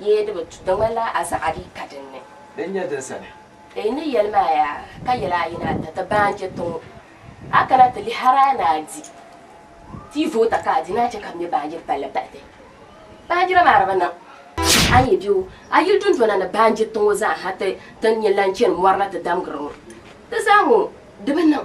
Yee di bi tu, di ŋmanila a zaɣa dii ka din ni. Din nyɛ din sani. N ni yɛli maa yaa, ka yɛli a yi ni a da ti baanjɛ tiŋ ŋɔ, a kana ti lihi hal a ni a di ti voota ka a di ni a chɛ ka bɛ me baanjiri palli bahi ti. Baanjira maa di bi niŋ. A ni yi be o, a yili dundona ni baanjiri ti ŋɔ zaa ha ti ti ni yɛn lahi chani mɔri na ti damgiri ŋɔ, di zaa ŋɔ di bi niŋ.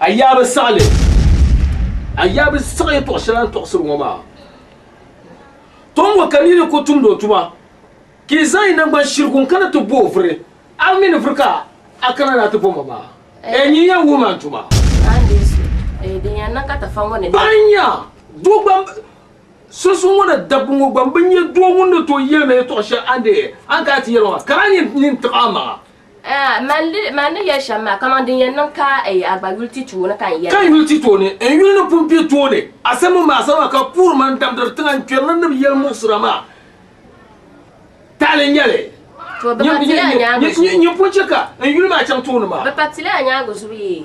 A yaa bi siɣi li, a yaa bi siɣi yɛtɔɣ shɛli a ni tɔɣisiri ŋɔ maa. Tom ŋɔ ka nini ku tumdi o tuma, ka yi zaŋ yi naŋgban shirigu n-kana ti bo o vuri, a mi ni vuri ka a kana ni a ti bo ma maa? Ɛɛ nyin yɛn wuhi ma n tuma? Ban nya doo gba sunsuuni ŋɔ na dabba ŋɔ gba bi nya doo ŋun ni tooi yɛli ma yɛtɔɣ shɛli a ni daa yɛn kana ti yɛli ma maa, ka daa nyin nini tiɣi a maŋa. Mani ni yɛli shɛm maa, kaman din yɛn niŋ ka a gba yuli ti tooni ka n yɛli. Ka n yuli ti tooni, n yuli ni pun kpe tooni. A sa mini ma, a sa maa ka puhiri ma n-damdiri tiŋa n-kpɛri ni nib yɛli muɣisira maa tahili n-nyɛli. Nyin pun chɛ ka n yuli maa chaŋ tooni maa. Bɛ pa ti li a nyaaŋa zubu yee.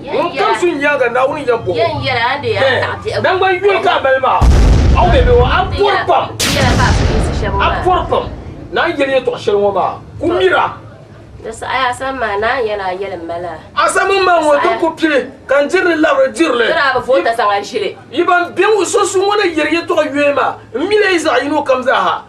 Ŋun kam su n-nyaaŋa Naawuni yɛn bɔŋ o, Hɛ! Naŋgban yoli ka a mali maa? A ŋun bebe ŋɔ, a pɔri pam! A pɔri pam! Naa yɛli yɛtɔɣ shɛli ŋɔ maa, ku mira! A sa mini ma ŋɔ, din ku pili, ka n diri li labiri diri li. Yi ban be ŋɔ sunsuuni ŋɔ na yɛri yɛtɔɣ yoya maa, m mil a yi zaɣ yino kam zaa ha.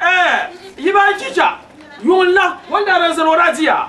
Eh, yi ba n chicha, yuŋ la, wan daa daa zani o daa di ya.